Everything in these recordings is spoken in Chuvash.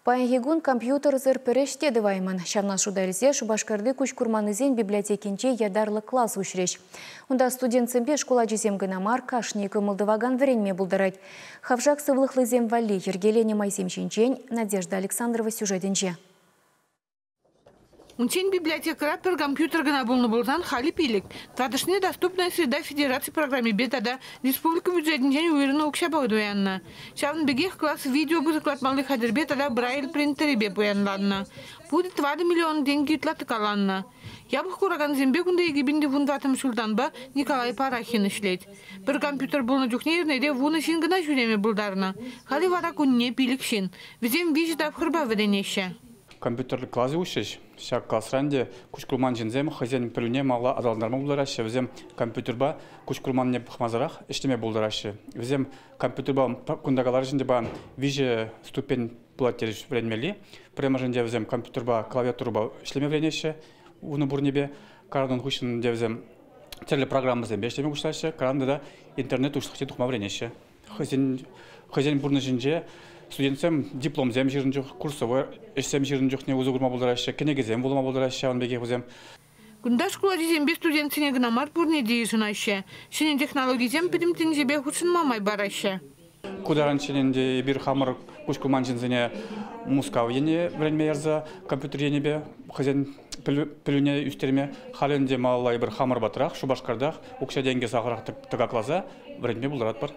Паянхи кун компьютерсӑр пӗр ӗҫ те тӑваймӑн. Ҫавна шута илсе Шупашкарти куҫ курманнисен библиотекинче ятарлӑ класс уҫрӗҫ. Унта студентсемпе шкул ачисем кӑна мар, кашни кӑмӑл тӑвакан вӗренме пултарать. Хавшак сывлӑхлисем валли йӗркеленӗ майсем ҫинчен Надежда Александрова сюжетӗнче. Унччен библиотекӑра пӗр компьютер кӑна пулнӑ пулсан халӗ пилӗк. Татӑшне Доступная среда федераци программипе тата республика бюджетӗнчен уйӑрнӑ укҫапа туяннӑ. Ҫавӑн пекех класс видео кӑсӑклатмалли хатӗрпе тата брайль принтерӗпе пуянланнӑ. Пурӗ тӑватӑ миллион тенкӗ ытла тӑкаланнӑ. Япӑх куракансемпе кунта икӗ пин тӑхӑнтатӑм ҫултанпа Николай Парахин ӗҫлет. Пӗр компьютер пулнӑ чухне эрнере вунӑ ҫын кӑна ҫӳреме пултарнӑ. Халӗ вара кунне пилӗк ҫын. Вӗсем виҫӗ тапхӑрпа вӗренеҫҫӗ. Компьютерлӗ класӗ уҫрӗҫ. Ҫак класран те куҫкурман ҫынсем хӑйсен пӗлӳне малалла аталантарма пултараҫҫӗ. Вӗсем компьютерпа куҫкурманне пӑхмасӑрах ӗҫлеме пултараҫҫӗ. Вӗсем компьютерпа кунта каларӗҫ ӗнтӗ виҫӗ ступень пулать терӗҫ вӗренмелли. Пӗрремӗшӗнче вӗсем компьютерпа клавиатурӑпа ӗҫлеме вӗренеҫҫӗ. Унӑн пурнипе. Карантин хыҫҫӑн те вӗсем тӗрлӗ программӑсемпе ӗҫлеме пуҫлаҫҫӗ. Карантинта интернет уҫлӑхне тухма вӗренеҫҫӗ. хӑйсен, хӑйсен пурнӑҫӗнче студентсем дипломсем ҫырӑн чух, курсовой ӗҫсем ҫырӑн чухне усӑ курма пултараҫҫӗ, кӗнекесем вулама пултараҫҫӗ ҫавӑн пекех вӗсем. Кунта шкул ачисемпе студентсене кӑна мар пурне те йышӑнаҫҫӗ, ҫӗнӗ технологисем пӗтӗм тӗнчепе хутшӑнма май параҫҫӗ. Ку таранччен ӗнтӗ эпир хамӑр куҫ курман ҫынсене Мускав ене вӗренме ярса компьютер енӗпе хӑйсен пӗлӳне ӳстерме, халӗ ӗнтӗ малалла эпир хамӑр патрах, Шупашкартах укҫа-тенкӗ сахӑрах тӑкакласа вӗрентме пултаратпӑр.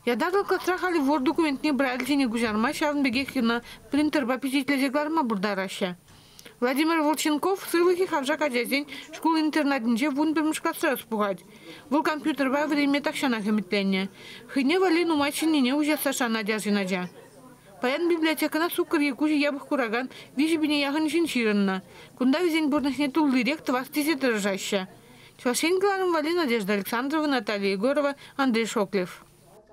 Ятаклӑ класра халӗ вор документне брательсене куҫарма, ҫавӑн пекех йӑна принтерпа пичетлесе кӑларма пултараҫҫӗ. Владимир Волченков сывлӑхи хавшак ачасен шкул-интернатӗнче вун пӗрмӗш класра ӑс пухать. Вӑл компьютерпа вӗренме тахҫанах ӗмӗтленнӗ. Хӑйне валли нумай ҫӗннине уҫасса шанать арҫын ача. Паян библиотекӑна суккӑр е куҫӗ япӑх куракан виҫӗ пине яхӑн ҫын ҫырӑннӑ. Кунта вӗсен пурнӑҫне туллирех тӑвас тесе тӑрӑшаҫҫӗ. Чӑваш Ен кӑларӑм валли Надежда Александровна, Наталья Егорова, Андрей Шоклев.